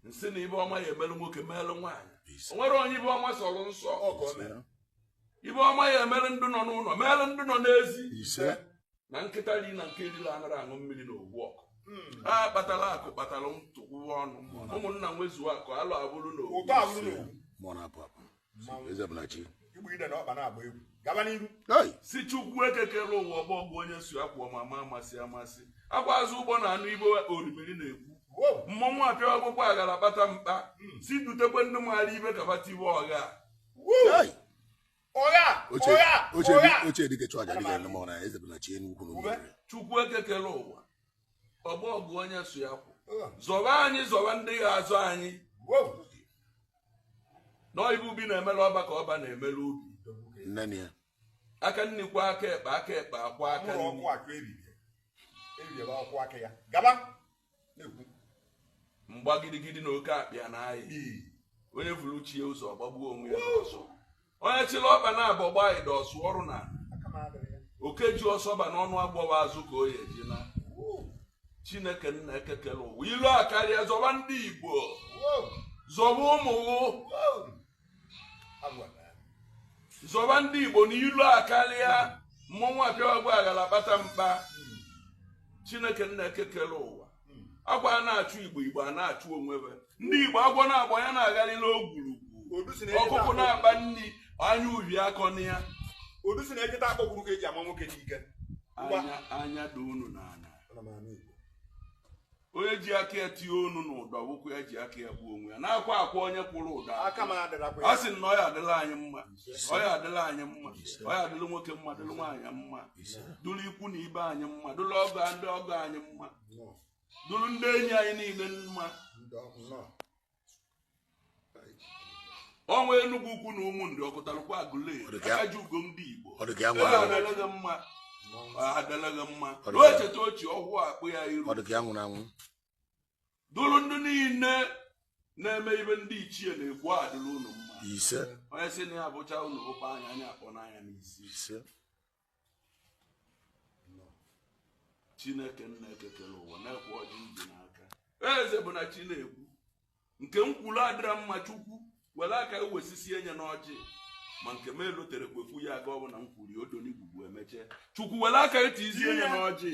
nsị na ive ọma ya emelụ nwoke melụ nwaanyị o nwere onye ive ọma sọrọ nsọ ọgọ mere ive ọma ya emelụ ndị nọ n'ụnọ melụ ndị nọ n'ezi ise na nkịta ri na nke erila anara aṅụ mmiri na ogbu ọkụ a kpatara akụ kpatara ntụkwụwa ọnụ ụmụnna nwezuo akụ alụ abụrụ na ogbu ụtọ abụrụ na ogbu mụọ na-apụ apụ si chukwu eke kelu ụwa ọgbọ ọgụ onye so ya kwụ ama ama amasị amasị akwa azụ ụgbọ na-anụ ive orimiri na-ekwu mmọnwụ apịa akwụkwọ aghara kpata mkpa hmm. si dutekwe ndị maara ive ka bata ibe ọgha chukwu eke kelu ụwa ọgbọ ọgụ onye so ya kwụ zọba anyị zọba ndị ga-azọ anyị na ọ ive ubi na-emela ọba ka ọba na-emela ubi aka nni kwa aka ekpe aka ekpe akwa aka nni mgba gidigidi na oke akpịa na ayị onye vulu chi ya ụzọ ọ gbagbuo onwe ya n'ọsọ onye chịrị ọba na abọ gbaa ịda ọ sụ ọrụ na oke ji ọsọ baa n'ọnụ agwọ ọ bụ azụ ka ọ ya eji naa chineke nna eke kelu ụwa ilo akarịa zọba ndị igbo zọba ụmụ ghụ zọba ndị igbo na ilo akarịa mmọnwụ apịa ọgba aghara kpata mkpa chineke nna eke kelu ụwa akwa a na-achụ igbo igbo a na-achụ onwe ve ndị igbo agwọ na-agba ya na-agharị n'ogwurugwu ọkụkọ na-akpa nri anya uvie akọna ya odu si na ejeta akpọkwuru ka eji ama nwoke n'ike anya dị unu n'anya onye ji aka ya tinye onu n'ụdọ ọ wụkwa ya ji aka ya gbuo onwe ya na-akwa akwa onye kwụrụ ụdọ a sị na ọ ya adịlị anyị mma ọ ya adịlị anyị mma ọ ya adịlị nwoke mma dịlị nwaanyị mma dụrụ ikwu na ibe anyị mma dụrụ ọgọ ndị ọgọ anyị mma dụrụ ndị enyi anyị niile mma ọnwa enugwu ukwu na ụmụ nri okutalukwe agụle aka ji ugo ndị igbo adịlị gị mma adịlị gị mma e cheta ochie ọhụụ akpụ ya iru dụrụ ndị niile na-eme ive ndị ichie na-ekwu a dịrị unu mma ise onye sị na ya bụcha unu ụkpa anya anya akpọ n'anya n'isi ise chineke nna eke kelu ụwa nekwe ọjị dị n'aka eze bụ na chi na-ekwu nke m kwuru adịra mma chukwu were aka ewesisi enye n'ọjị ma nke m elotere kwekwu ya aga ọ bụ na m kwuru ya odonigwugwu emeche chukwu were aka eti isi enye n'ọjị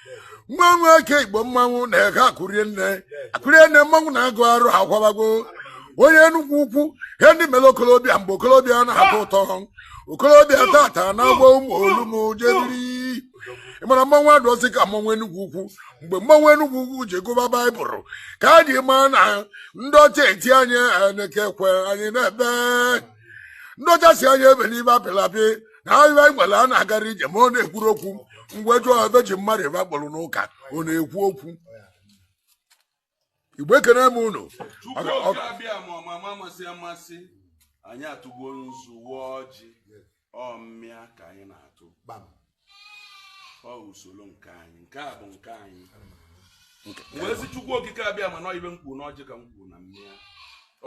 nwa nwa eke igbo mmanwụ na-ege akụrie nne akụrie nne mmanwụ na-agụ arụ akwabago onye enugwu ukwu ihe ndị mere okolobịa mgbe okolobịa na-atọ ụtọ okolobịa taata na-agba ụmụ olumu jediri ị mara mmanwụ adịrọzi ka mmanwụ enugwu ukwu mgbe mmanwụ enugwu ukwu ji gụba baịbụl ka a ji maa na ndị ọcha eti anyị anyị na-eke ekwe anyị na-ebe ndị ọcha sị anyị ebe n'ime apịlapị na ahịa anyị nwere a na-agara ije ma ọ na-ekwuru okwu mgbe jụọ ebe ji mmadụ ebe akpọrọ n'ụka ọ na-ekwu okwu igbo ekene m unu Chukwu oke abịama ọmama amasị amasị anyị atụgo nzu waa ọjị ọ mmịa ka anyị na-atụ ọ usoro nke anyị nke a bụ nke anyị wee sị chukwu okike abịama na ọ ife m kwuru n'ọjị ka m kwuru na mmịa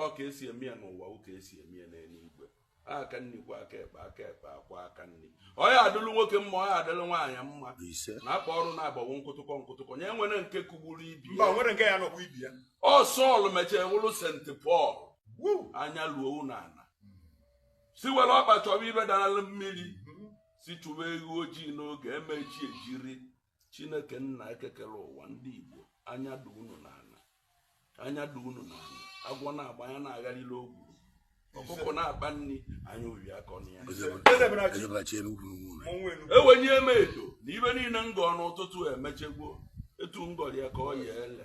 ọ ka e si eme ya n'ụwa ọ ka e si eme ya n'eluigwe aka nri kwọọ aka ekpe aka ekpe akwọọ aka nri ọ ya-adịlụ nwoke mma ọ ya-adịlụ nwaanyị mma na akpa ọrụ na-agbawo nkụtụkọ nkụtụkọ nye nwere nke kụgburu ibi ya ọ sọl mechara wụrụ sent pọl anya luo unu ana sị were ọkpa chọba ife dara mmiri sị chụba ewu ojii n'oge e mee chi ejiri chineke nna eke kere ụwa ndị igbo anya dị unu n'ala anya dị unu n'ala agwọ na-agba anya na-agharịla ogwu ọkụkọ na-akpa nri anya obi akọna ya ewenye m edo na ife niile m gọọ n'ụtụtụ emechego etu m gọrọ ya ka ọ ya-ele